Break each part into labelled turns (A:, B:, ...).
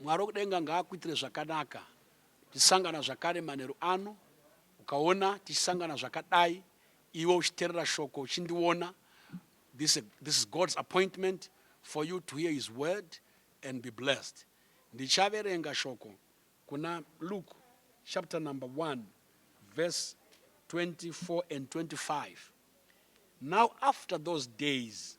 A: Mwari wekudenga ngaakuitire zvakanaka tisangana zvakare manheru ano ukaona tichisangana zvakadai iwe uchiterera shoko uchindiona this, this is God's appointment for you to hear his word and be blessed ndichaverenga shoko kuna Luke chapter number 1 verse 24 and 25 now after those days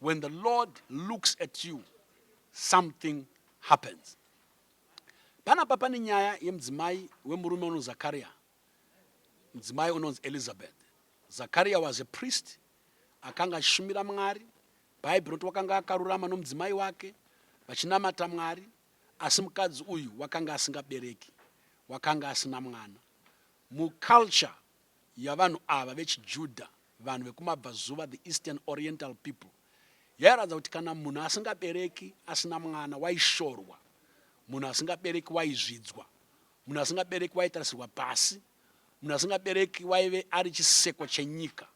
A: When the Lord looks at you, something happens. Panapa pane nyaya yemudzimai wemurume unonzi Zakaria, mudzimai unonzi Elizabeth. Zakaria was a priest, akanga achishumira Mwari. Bhaibheri roti wakanga akarurama nomudzimai wake vachinamata Mwari, asi mukadzi uyu wakanga asingabereki, wakanga asina mwana. Muculture yavanhu ava vechiJudha, vanhu vekumabvazuva, the Eastern Oriental people, yairatidza kuti kana munhu asingabereki asina mwana waishorwa, munhu asingabereki waizvidzwa, munhu asingabereki waitarisirwa pasi, munhu asingabereki waive ari chiseko chenyika.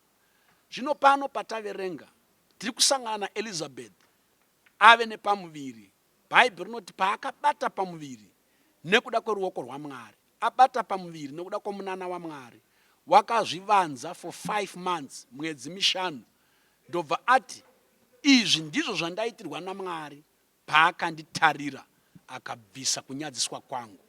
A: Zvino pano pataverenga, tiri kusangana naElizabeth ave nepamuviri Bhaibheri rinoti paakabata pamuviri nekuda kweruoko rwaMwari, abata pamuviri nekuda kwomunana waMwari, wakazvivanza for five months, mwedzi mishanu, ndobva ati, Izvi ndizvo zvandaitirwa naMwari paakanditarira akabvisa kunyadziswa kwangu.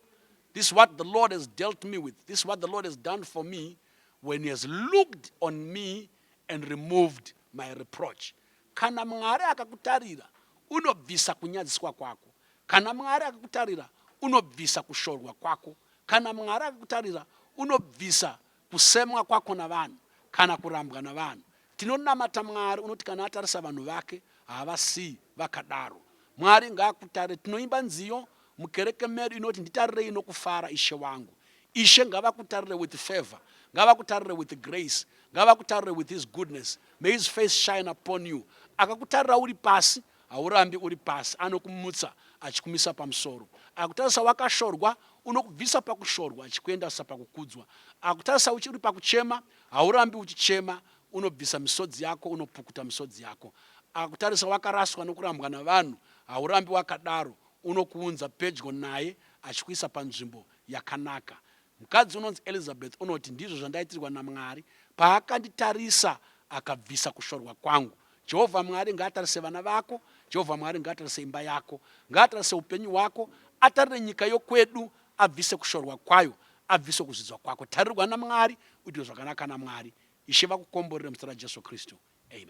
A: This is what the Lord has dealt me with. This is what the Lord has done for me when he has looked on me and removed my reproach. Kana Mwari akakutarira, unobvisa kunyadziswa kwako. Kana Mwari akakutarira, unobvisa kushorwa kwako. Kana Mwari akakutarira, unobvisa kusemwa kwako navanhu kana kurambwa navanhu. Tinonamata Mwari unoti kana atarisa vanhu vake, haavasiyi vakadaro. Mwari ngaakutare. Tinoimba nziyo, Mukereke medu inoti nditarirei nokufara ishe wangu. Ishe ngavakutarire with favor, ngavakutarire with grace, ngavakutarire with his goodness. May his face shine upon you. Akakutarira uri pasi, haurambi uri pasi, anokumutsa achikumisa pamusoro. Akutarisa wakashorwa, unokubvisa pakushorwa achikuendasa pakukudzwa. Akutarisa uchiri pakuchema, haurambi uchichema, unobvisa misodzi yako, unopukuta misodzi yako. Akutarisa wakaraswa nokurambwa navanhu, haurambi wakadaro, Unokuunza pedyo naye achikuisa panzvimbo yakanaka. Mukadzi unonzi Elizabeth unoti, Ndizvo zvandaitirwa naMwari. Paakanditarisa, akabvisa kushorwa kwangu. Jehovha Mwari ngaatarise vana vako. Jehovha Mwari ngaatarise imba yako. Ngaatarise upenyu hwako. Atarire nyika yokwedu, abvise kushorwa kwayo, abvise kuzvidzwa kwako. Tarirwa naMwari, uitwe zvakanaka naMwari. Ishe vakukomborere muzita raJesu Kristu. Amen.